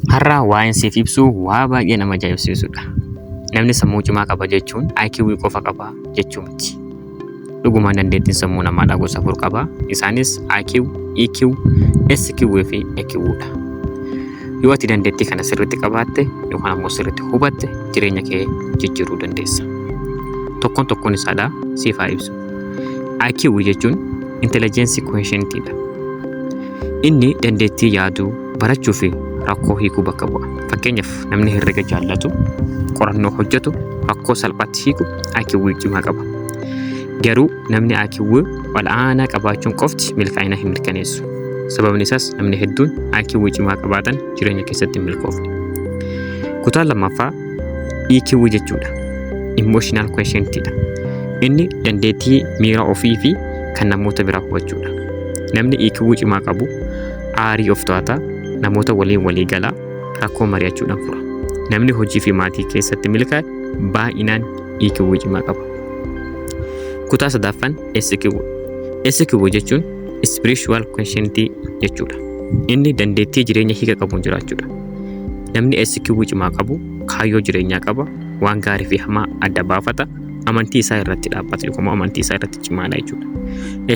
Har'a waa'een siif ibsu waa baay'ee nama ajaa'ibsiisudha. Namni sammuu cimaa qaba jechuun IQ qofa qaba jechuu miti. Dhugumaan dandeettiin sammuu namaadhaa gosa afur qaba. Isaanis IQ, EQ, SQ fi EQ dha. Yoo ati dandeettii kana sirriitti qabaatte yookaan ammoo sirriitti hubatte jireenya kee jijjiiruu dandeessa. Tokkoon tokkoon isaadhaa siif haa ibsu. IQ jechuun intelligence quotient dha. Inni dandeettii yaaduu, barachuu fi rakkoo hiikuu bakka bu'a. Fakkeenyaaf namni herrega jaallatu, qorannoo hojjetu, rakkoo salphaatti hiiku IQW cimaa qaba. Garuu namni IQW ol'aanaa qabaachuun qofti milkaa'ina hin mirkaneessu. Sababni isaas namni hedduun IQW cimaa qabaatan jireenya keessatti hin milkoofne. Kutaan lammaffaa EQW jechuudha. Emotional quotient dha. Inni dandeettii miira ofii fi kan namoota biraa hubachuudha. Namni EQW cimaa qabu aarii of to'ata, namoota waliin walii gala, rakkoo mari'achuudhaan fura. Namni hojii fi maatii keessatti milkaa'e baay'inaan EQ cimaa qaba. Kutaa sadaffaan SQ. SQ jechuun spiritual consciency jechuudha. Inni dandeettii jireenya hiika qabuun jiraachuudha. Namni SQ cimaa qabu kaayyoo jireenyaa qaba, waan gaarii fi hamaa adda baafata, amantii isaa irratti dhaabbata yookaan immoo amantii isaa irratti cimaadha jechuudha.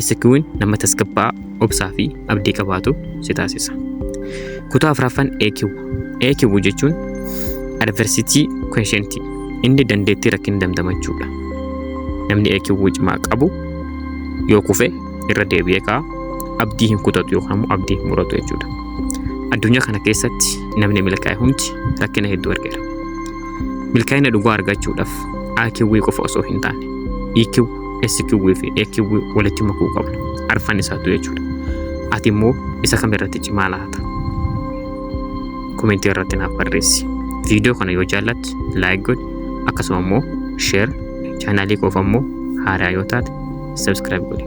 SQ'n nama tasgabbaa'aa, obsaa fi abdii qabaatu si taasisa. Kutaa afraffan AQ. AQ jechuun adversity quotient inni dandeettii rakkina damdamachuudha. Namni AQ cimaa qabu yoo kufe irra deebi'ee ka'a abdii hin kutatu yookaan immoo abdii hin muratu jechuudha. Addunyaa kana keessatti namni milkaa'e hundi rakkina hedduu argeera. Milkaa'ina dhugaa argachuudhaaf AQW qofa osoo hin taane EQ, SQW fi AQW walitti makuu qabna. Arfan isaatu jechuudha. Ati immoo isa kam irratti cimaa laata? Komentii irratti naaf barreessi. Viidiyoo kana yoo jaallatte laayik godhi akkasuma immoo sheer chaanaalii koof ammoo haaraa yoo taate sabskiraayib godhi.